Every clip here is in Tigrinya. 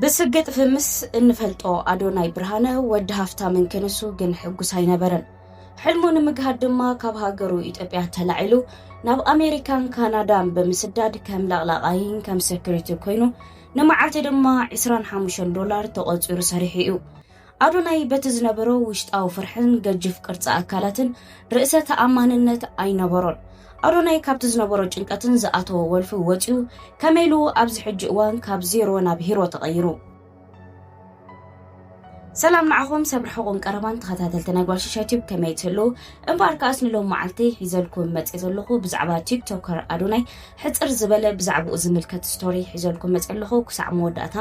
ብስግጥ ፍምስ እንፈልጦ ኣዶናይ ብርሃነ ወዲ ሃፍታምን ክንሱ ግን ሕጉስ ኣይነበረን ሕልሙ ንምግሃድ ድማ ካብ ሃገሩ ኢትዮጵያ ተላዒሉ ናብ ኣሜሪካን ካናዳን ብምስዳድ ከም ለቕላቓይን ከም ሰክሪቲ ኮይኑ ንመዓልቲ ድማ 25 ዶላር ተቖፂሩ ሰሪሑ እዩ ኣዶናይ በቲ ዝነበሮ ውሽጣዊ ፍርሕን ገጅፍ ቅርጺ ኣካላትን ርእሰ ተኣማንነት ኣይነበሮን። ኣዶናይ ካብቲ ዝነበሮ ጭንቀትን ዝኣተዎ ወልፊ ወጺኡ ከመይ ኢሉ ኣብዚ ሕጂ እዋን ካብ ዜሮ ናብ ሂሮ ተቐይሩ? ሰላም ንዓኹም ሰብ ርሑቕን ቀረባን ተኸታተልቲ ናይ ጓል ሽሻይ ቲዩብ ከመይ ትህልው እምበኣር ከኣስ ንሎም መዓልቲ ሒዘልኩም መፅእ ዘለኹ ብዛዕባ ቲክቶከር ኣዶናይ ሕጽር ዝበለ ብዛዕባኡ ዝምልከት ስቶሪ ሒዘልኩም መጽ ኣለኹ ክሳዕ መወዳእታ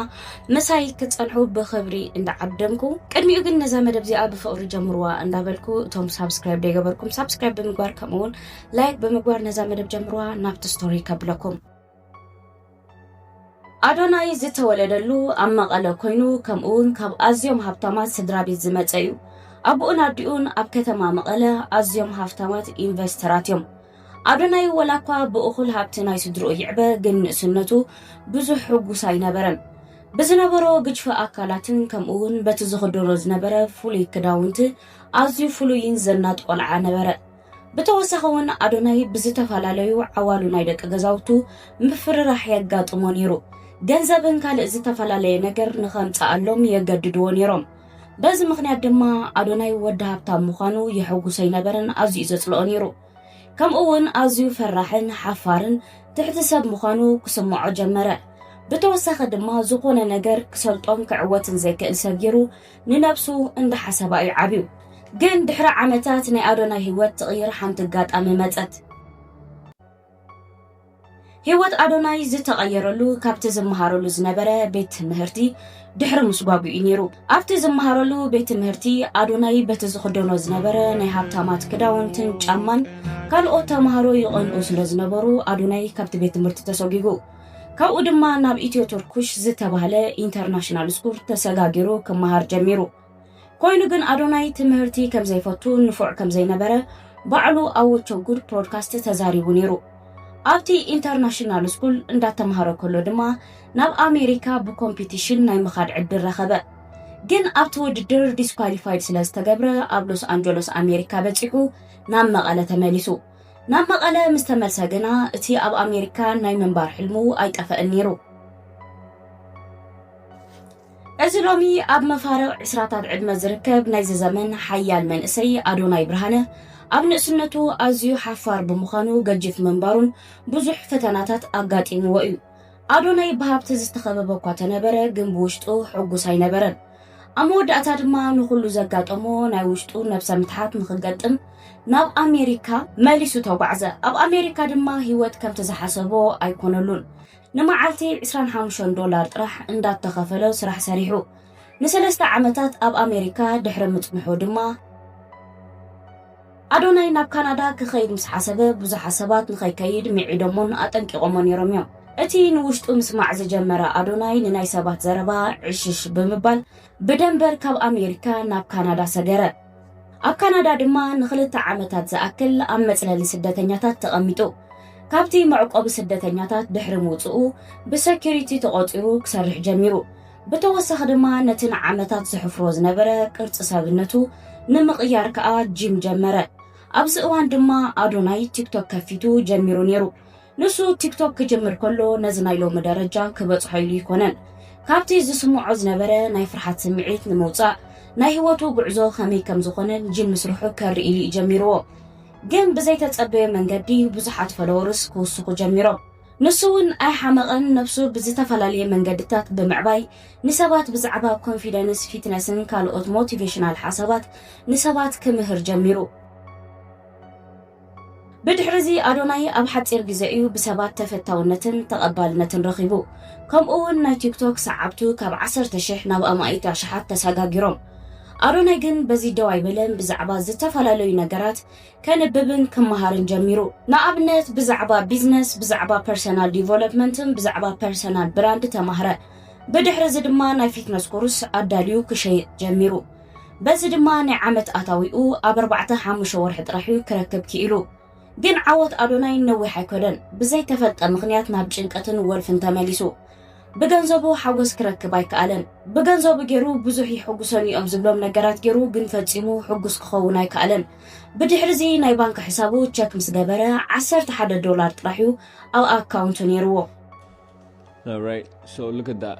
ምሳይ ክትጸንሑ ብኽብሪ እንዳዓደምኩ ቅድሚኡ ግን ነዛ መደብ እዚኣ ብፍቕሪ ጀምርዋ እንዳበልኩ እቶም ሳብስክራይብ ደይገበርኩም ሳብስክራይብ ብምግባር ከምኡ ውን ላይክ ብምግባር ነዛ መደብ ጀምርዋ ናብቲ ስቶሪ ከብለኩም ኣዶናይ ዝተወለደሉ ኣብ መቐለ ኮይኑ ከምኡ ውን ካብ ኣዝዮም ሃብታማት ስድራ ቤት ዝመፀ እዩ ኣቦኡን ኣዲኡን ኣብ ከተማ መቐለ ኣዝዮም ሃፍታማት ኢንቨስተራት እዮም ኣዶናይ ወላኳ ብእኹል ሃብቲ ናይ ስድርኡ ይዕበ ግን ንእስነቱ ብዙሕ ሕጉስ ኣይነበረን። ብዝነበሮ ግጅፈ ኣካላትን ከምኡ እውን በቲ ዝኽደኖ ዝነበረ ፍሉይ ክዳውንቲ ኣዝዩ ፍሉይን ዘናጥ ቆልዓ ነበረ። ብተወሳኺ እውን ኣዶናይ ብዝተፈላለዩ ዓዋሉ ናይ ደቂ ገዛውቱ ምፍርራሕ የጋጥሞ ነይሩ። ገንዘብን ካልእ ዝተፈላለየ ነገር ንኸምጽኣሎም የገድድዎ ነይሮም። በዚ ምኽንያት ድማ ኣዶናይ ወዲ ሃብታም ምዃኑ የሐጉሶ ኣይነበረን፣ ኣዝዩ ዘጽልኦ ነይሩ። ከምኡ'ውን ኣዝዩ ፈራሕን ሓፋርን ትሕቲ ሰብ ምዃኑ ክስምዖ ጀመረ። ብተወሳኺ ድማ ዝኾነ ነገር ክሰልጦን ክዕወትን ዘይክእል ሰብ ገይሩ ንነብሱ እንዳሓሰባ እዩ ዓብዩ። ግን ድሕሪ ዓመታት ናይ ኣዶናይ ህይወት ትቕይር ሓንቲ ኣጋጣሚ መጸት። ህይወት ኣዶናይ ዝተቐየረሉ ካብቲ ዝመሃረሉ ዝነበረ ቤት ትምህርቲ ድሕሪ ምስጓጉ እዩ ነይሩ ኣብቲ ዝመሃረሉ ቤት ትምህርቲ ኣዶናይ በቲ ዝኽደኖ ዝነበረ ናይ ሃብታማት ክዳውንትን ጫማን ካልኦት ተምሃሮ ይቐንኡ ስለ ዝነበሩ ኣዶናይ ካብቲ ቤት ትምህርቲ ተሰጒጉ ካብኡ ድማ ናብ ኢትዮ ቱርኩሽ ዝተባህለ ኢንተርናሽናል ስኩል ተሰጋጊሩ ክመሃር ጀሚሩ ኮይኑ ግን ኣዶናይ ትምህርቲ ከም ዘይፈቱ ንፉዕ ከም ዘይነበረ ባዕሉ ኣብ ወቾ ጉድ ፖድካስት ተዛሪቡ ነይሩ ኣብቲ ኢንተርናሽናል ስኩል እንዳተምሃረ ከሎ ድማ ናብ ኣሜሪካ ብኮምፒቲሽን ናይ ምኻድ ዕድል ረኸበ ግን ኣብቲ ውድድር ዲስኳሊፋይድ ስለ ዝተገብረ ኣብ ሎስ ኣንጀሎስ ኣሜሪካ በፂሑ ናብ መቐለ ተመሊሱ ናብ መቐለ ምስ ተመልሰ ግና እቲ ኣብ ኣሜሪካ ናይ ምንባር ሕልሙ ኣይጠፈእን ነይሩ እዚ ሎሚ ኣብ መፋርቕ ዕስራታት ዕድመ ዝርከብ ናይዚ ዘመን ሓያል መንእሰይ ኣዶናይ ብርሃነ ኣብ ንእስነቱ ኣዝዩ ሓፋር ብምዃኑ ገጅፍ ምንባሩን ብዙሕ ፈተናታት ኣጋጢምዎ እዩ። ኣዶናይ ብሃብቲ ዝተኸበበ እኳ ተነበረ ግን ብውሽጡ ሕጉስ ኣይነበረን። ኣብ መወዳእታ ድማ ንኹሉ ዘጋጠሞ ናይ ውሽጡ ነብሰ ምትሓት ንኽገጥም ናብ ኣሜሪካ መሊሱ ተጓዕዘ። ኣብ ኣሜሪካ ድማ ህይወት ከምቲ ዝሓሰቦ ኣይኮነሉን። ንመዓልቲ ዕስራን ሓሙሽተን ዶላር ጥራሕ እንዳተኸፈሎ ስራሕ ሰሪሑ ንሰለስተ ዓመታት ኣብ ኣሜሪካ ድሕሪ ምጽንሑ ድማ፣ ኣዶናይ ናብ ካናዳ ክኸይድ ምስ ሓሰበ ብዙሓት ሰባት ንኸይከይድ ምዒዶሞን ኣጠንቂቖሞ ነይሮም እዮም። እቲ ንውሽጡ ምስማዕ ዝጀመረ ኣዶናይ ንናይ ሰባት ዘረባ ዕሽሽ ብምባል ብደንበር ካብ ኣሜሪካ ናብ ካናዳ ሰገረ። ኣብ ካናዳ ድማ ንክልተ ዓመታት ዝኣክል ኣብ መጽለሊ ስደተኛታት ተቐሚጡ ካብቲ መዕቆቢ ስደተኛታት ድሕሪ ምውጽኡ ብሰኪሪቲ ተቖጺሩ ክሰርሕ ጀሚሩ ብተወሳኺ ድማ ነቲ ንዓመታት ዘሕፍሮ ዝነበረ ቅርፂ ሰብነቱ ንምቕያር ከኣ ጂም ጀመረ ኣብዚ እዋን ድማ ኣዶናይ ቲክቶክ ከፊቱ ጀሚሩ ነይሩ ንሱ ቲክቶክ ክጅምር ከሎ ነዚ ናይ ሎሚ ደረጃ ክበጽሖ ኢሉ ኣይኮነን። ካብቲ ዝስምዖ ዝነበረ ናይ ፍርሓት ስምዒት ንምውጻእ ናይ ህይወቱ ጉዕዞ ከመይ ከም ዝኾነን ጂም ምስርሑ ከርኢ ኢሉ እዩ ጀሚርዎ። ግን ብዘይተጸበዮ መንገዲ ብዙሓት ፈለወርስ ክውስኹ ጀሚሮም። ንሱ እውን ኣይሓመቐን፣ ነብሱ ብዝተፈላለየ መንገድታት ብምዕባይ ንሰባት ብዛዕባ ኮንፊደንስ፣ ፊትነስን ካልኦት ሞቲቬሽናል ሓሳባት ንሰባት ክምህር ጀሚሩ። ብድሕርዚ ኣዶናይ ኣብ ሓጺር ግዜ እዩ ብሰባት ተፈታውነትን ተቐባልነትን ረኺቡ። ከምኡ'ውን ናይ ቲክቶክ ሰዓብቱ ካብ ዓሰርተ ሽሕ ናብ ኣማኢት ኣሽሓት ተሰጋጊሮም። ኣዶናይ ግን በዚ ደው ኣይበለን፣ ብዛዕባ ዝተፈላለዩ ነገራት ከንብብን ክመሃርን ጀሚሩ። ንኣብነት ብዛዕባ ቢዝነስ፣ ብዛዕባ ፐርሰናል ዲቨሎፕመንትን ብዛዕባ ፐርሰናል ብራንድ ተማህረ። ብድሕርዚ ድማ ናይ ፊትነስ ኮርስ ኣዳልዩ ክሸይጥ ጀሚሩ። በዚ ድማ ናይ ዓመት ኣታዊኡ ኣብ ኣርባዕተ ሓሙሽተ ወርሒ ጥራሕ እዩ ክረክብ ክኢሉ። ግን ዓወት ኣዶናይ ነዊሕ ኣይከዶን፣ ብዘይተፈልጠ ምኽንያት ናብ ጭንቀትን ወልፍን ተመሊሱ። ብገንዘቡ ሓጎስ ክረክብ ኣይከኣለን። ብገንዘቡ ገይሩ ብዙሕ የሕጉሰኒ እዮም ዝብሎም ነገራት ገይሩ ግን ፈጺሙ ሕጉስ ክኸውን ኣይከኣለን። ብድሕሪዚ ናይ ባንክ ሕሳቡ ቸክ ምስ ገበረ ዓሰርተ ሓደ ዶላር ጥራሕ እዩ ኣብ ኣካውንቱ ነይርዎ። Alright, so look at that.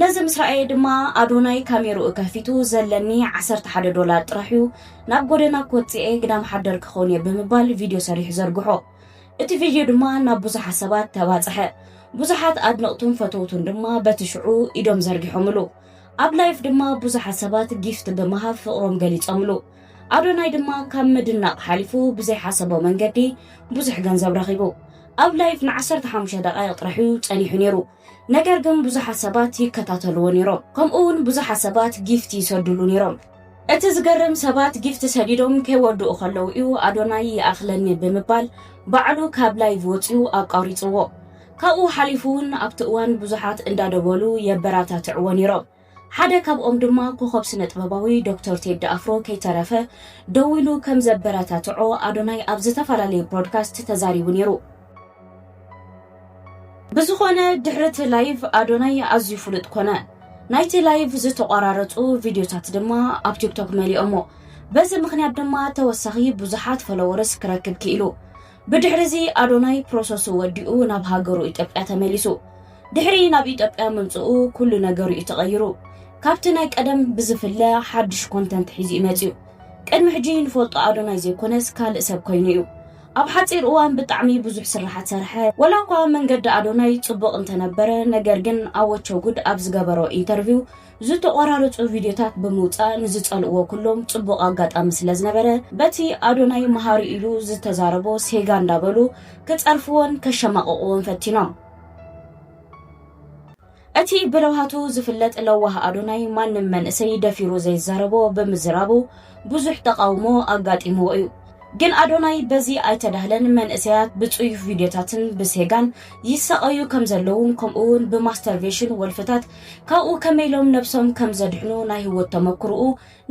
ነዚ ምስ ረኣየ ድማ ኣዶናይ ካሜርኡ ከፊቱ ዘለኒ ዓሰርተ ሓደ ዶላር ጥራሕ'ዩ፣ ናብ ጎደና ክወጽእ'የ፣ ግዳም ሓደር ክኸውን'የ ብምባል ቪድዮ ሰሪሑ ዘርግሖ። እቲ ቪድዮ ድማ ናብ ብዙሓት ሰባት ተባጽሐ። ብዙሓት ኣድነቕቱን ፈተውቱን ድማ በቲ ሽዑ ኢዶም ዘርጊሖምሉ። ኣብ ላይቭ ድማ ብዙሓት ሰባት ጊፍት ብምሃብ ፍቕሮም ገሊጾምሉ። ኣዶናይ ድማ ካብ ምድናቕ ሓሊፉ ብዘይሓሰቦ መንገዲ ብዙሕ ገንዘብ ረኺቡ። ኣብ ላይቭ ንዓሰርተ ሓሙሽተ ደቓይቕ ጥራሕ'ዩ ጸኒሑ ነይሩ። ነገር ግን ብዙሓት ሰባት ይከታተልዎ ኔሮም ከምኡ ውን ብዙሓት ሰባት ጊፍት ይሰዱሉ ኔሮም። እቲ ዝገርም ሰባት ጊፍት ሰዲዶም ከይወድኡ ከለዉ እዩ ኣዶናይ ይኣኽለኒ ብምባል ባዕሉ ካብ ላይቭ ወጺኡ ኣቋሪጽዎ። ካብኡ ሓሊፉ ውን ኣብቲ እዋን ብዙሓት እንዳደወሉ የበራታትዕዎ ኔሮም። ሓደ ካብኦም ድማ ኮኾብ ስነጥበባዊ ዶክተር ቴዲ ኣፍሮ ከይተረፈ ደዊሉ ከም ዘበረታትዖ ኣዶናይ ኣብ ዝተፈላለዩ ብሮድካስት ተዛሪቡ ነይሩ። ብዝኾነ ድሕሪ እቲ ላይቭ ኣዶናይ ኣዝዩ ፍሉጥ ኮነ። ናይቲ ላይቭ ዝተቋራረፁ ቪድዮታት ድማ ኣብ ቲክቶክ መሊኦሞ። በዚ ምኽንያት ድማ ተወሳኺ ብዙሓት ፎሎወርስ ክረክብ ክኢሉ። ብድሕሪዚ ኣዶናይ ፕሮሰሱ ወዲኡ ናብ ሃገሩ ኢትዮጵያ ተመሊሱ። ድሕሪ ናብ ኢትዮጵያ ምምጽኡ ኩሉ ነገሩ እዩ ተቐይሩ። ካብቲ ናይ ቀደም ብዝፍለ ሓድሽ ኮንተንት ሒዙ እዩ መጺኡ። ቅድሚ ሕጂ ንፈልጦ ኣዶናይ ዘይኮነስ ካልእ ሰብ ኮይኑ እዩ። ኣብ ሓጺር እዋን ብጣዕሚ ብዙሕ ስርሓት ሰርሐ። ወላ እኳ መንገዲ ኣዶናይ ጽቡቕ እንተነበረ ነገር ግን ኣወቸ ጉድ ኣብ ዝገበሮ ኢንተርቪው ዝተቖራረጹ ቪድዮታት ብምውጻእ ንዝጸልእዎ ኩሎም ጽቡቕ ኣጋጣሚ ስለ ዝነበረ በቲ ኣዶናይ መሃሪ ኢሉ ዝተዛረቦ ሴጋ እንዳበሉ ክጸርፍዎን ከሸማቕቕዎን ፈቲኖም። እቲ ብለውሃቱ ዝፍለጥ ለዋህ ኣዶናይ ማንም መንእሰይ ደፊሩ ዘይዛረቦ ብምዝራቡ ብዙሕ ተቓውሞ ኣጋጢምዎ እዩ። ግን ኣዶናይ በዚ ኣይተዳህለን መንእሰያት ብጽዩፍ ቪድዮታትን ብሴጋን ይሳቐዩ ከም ዘለዉን ከምኡ'ውን ብማስተርቬሽን ወልፍታት ካብኡ ከመይ ኢሎም ነብሶም ከም ዘድሕኑ ናይ ህይወት ተመክሮኡ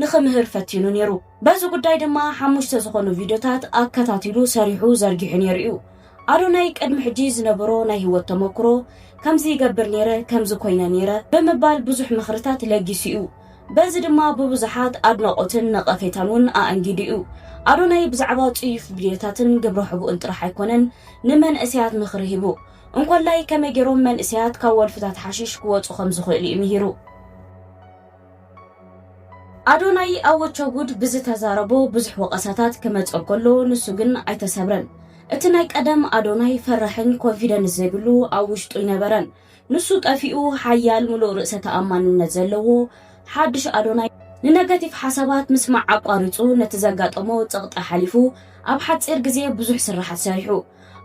ንኽምህር ፈቲኑ ኔሩ። በዚ ጉዳይ ድማ ሓሙሽተ ዝኾኑ ቪድዮታት ኣከታቲሉ ሰሪሑ ዘርጊሑ ኔሩ እዩ። ኣዶናይ ቅድሚ ሕጂ ዝነበሮ ናይ ህይወት ተመክሮ ከምዚ ይገብር ኔረ ከምዚ ኮይነ ኔረ ብምባል ብዙሕ ምኽርታት ለጊሱ እዩ። በዚ ድማ ብብዙሓት ኣድናቖትን ነቐፌታን ውን ኣኣንጊዱ እዩ። ኣዶናይ ብዛዕባ ጽዩፍ ቪድዮታትን ግብረ ሕቡእን ጥራሕ ኣይኮነን ንመንእሰያት ምኽሪ ሂቡ። እንኮላይ ከመይ ገይሮም መንእሰያት ካብ ወልፍታት ሓሺሽ ክወጹ ከም ዝኽእሉ እዩ ምሂሩ። ኣዶናይ ኣወቸጉድ ብዝተዛረቦ ብዙሕ ወቐሳታት ክመጾ ከሎ ንሱ ግን ኣይተሰብረን። እቲ ናይ ቀደም ኣዶናይ ፈራሕን ኮንፊደንስ ዘይብሉ ኣብ ውሽጡ ኣይነበረን። ንሱ ጠፊኡ ሓያል ምሉእ ርእሰ ተኣማንነት ዘለዎ ሓድሽ ኣዶናይ ንነገቲቭ ሓሳባት ምስማዕ ኣቋሪጹ ነቲ ዘጋጠሞ ጸቕጢ ሓሊፉ ኣብ ሓጺር ግዜ ብዙሕ ስርሓት ሰሪሑ።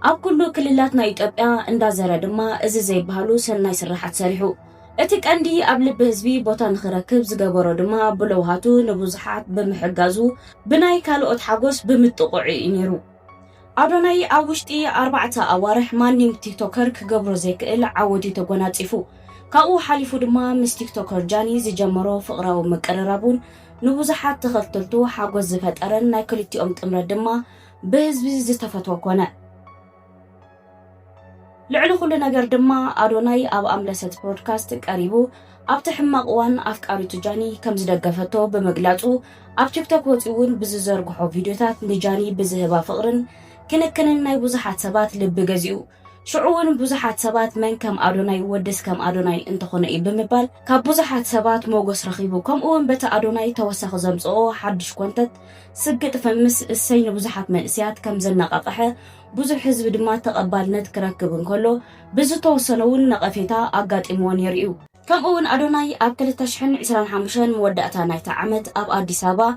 ኣብ ኩሉ ክልላት ናይ ኢትዮጵያ እንዳዘረ ድማ እዚ ዘይበሃሉ ሰናይ ስራሓት ሰሪሑ። እቲ ቀንዲ ኣብ ልቢ ህዝቢ ቦታ ንኽረክብ ዝገበሮ ድማ ብለውሃቱ ንብዙሓት ብምሕጋዙ ብናይ ካልኦት ሓጎስ ብምጥቕዑ እዩ ነይሩ። ኣዶናይ ኣብ ውሽጢ ኣርባዕተ ኣዋርሕ ማንም ቲክቶከር ክገብሮ ዘይክእል ዓወት እዩ ተጎናጺፉ። ካብኡ ሓሊፉ ድማ ምስ ቲክቶከር ጃኒ ዝጀመሮ ፍቕራዊ ምቅርራብ እውን ንብዙሓት ተኸተልቱ ሓጎስ ዝፈጠረን ናይ ክልቲኦም ጥምረት ድማ ብህዝቢ ዝተፈትወ ኮነ። ልዕሊ ኩሉ ነገር ድማ ኣዶናይ ኣብ ኣምለሰት ብሮድካስት ቀሪቡ ኣብቲ ሕማቕ እዋን ኣፍቃሪቱ ጃኒ ከም ዝደገፈቶ ብምግላጹ ኣብ ቲክቶክ ወጺኡ እውን ብዝዘርግሖ ቪድዮታት ንጃኒ ብዝህባ ፍቕርን ክንክንን ናይ ብዙሓት ሰባት ልቢ ገዚኡ። ሽዑ እውን ብዙሓት ሰባት መን ከም ኣዶናይ ወድስ ከም ኣዶናይ እንተኾነ እዩ ብምባል ካብ ብዙሓት ሰባት ሞጎስ ረኺቡ ከምኡ እውን በቲ ኣዶናይ ተወሳኺ ዘምጽኦ ሓድሽ ኮንተት ስግጥ ፈምስ እሰይ ንብዙሓት መንእሰያት ከም ዘነቓቕሐ ብዙሕ ህዝቢ ድማ ተቐባልነት ክረክብ እንከሎ ብዝተወሰነ እውን ነቐፌታ ኣጋጢምዎ ነይሩ እዩ። ከምኡ'ውን ኣዶናይ ኣብ ክልተ ሽሕን ዕስራን ሓሙሽተን መወዳእታ ናይታ ዓመት ኣብ ኣዲስ ኣበባ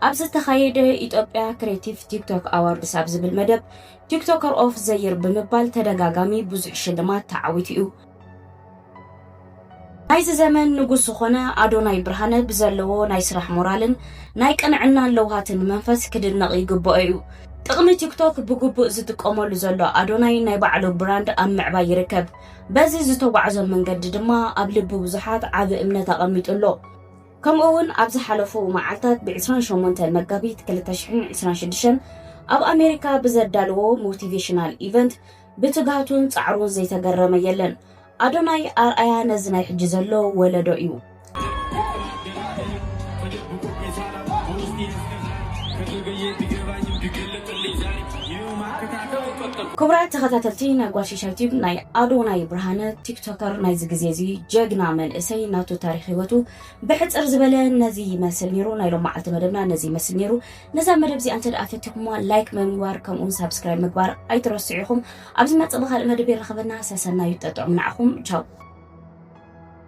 ኣብ ዝተኻየደ ኢትዮጵያ ክሬቲቭ ቲክቶክ ኣዋርድስ ኣብ ዝብል መደብ ቲክቶከር ኦፍ ዘይር ብምባል ተደጋጋሚ ብዙሕ ሽልማት ተዓዊቱ እዩ። ናይዚ ዘመን ንጉስ ዝኾነ ኣዶናይ ብርሃነ ብዘለዎ ናይ ስራሕ ሞራልን ናይ ቅንዕናን ለውሃትን መንፈስ ክድነቕ ይግብኦ እዩ። ጥቕሚ ቲክቶክ ብግቡእ ዝጥቀመሉ ዘሎ ኣዶናይ ናይ ባዕሉ ብራንድ ኣብ ምዕባይ ይርከብ። በዚ ዝተጓዕዞ መንገዲ ድማ ኣብ ልቢ ብዙሓት ዓቢ እምነት ኣቐሚጡ ኣሎ። ከምኡ እውን ኣብ ዝሓለፉ መዓልታት ብ28 መጋቢት 2026 ኣብ ኣሜሪካ ብዘዳለዎ ሞቲቬሽናል ኢቨንት ብትግሃቱን ጻዕሩን ዘይተገረመ የለን። ኣዶናይ ኣርኣያ ነዚ ናይ ሕጂ ዘሎ ወለዶ እዩ። ክቡራት ተኸታተልቲ ናይ ጓሽሻይ ቲዩብ ናይ ኣዶናይ ብርሃነ ቲክቶከር ናይዚ ግዜ እዚ ጀግና መንእሰይ ናቱ ታሪክ ሂወቱ ብሕፅር ዝበለ ነዚ ይመስል ነይሩ ናይ ሎም መዓልቲ መደብና ነዚ ይመስል ነይሩ ነዛ መደብ እዚኣ እንተደኣ ፈቲኹምዋ ላይክ ብምግባር ከምኡውን ሳብስክራይብ ምግባር ኣይትረስዑ ኢኹም ኣብ ዝመፅእ ብካልእ መደብ ይረኸበና ሰሰናዩ ጠጥዑም ንዓኹም ቻው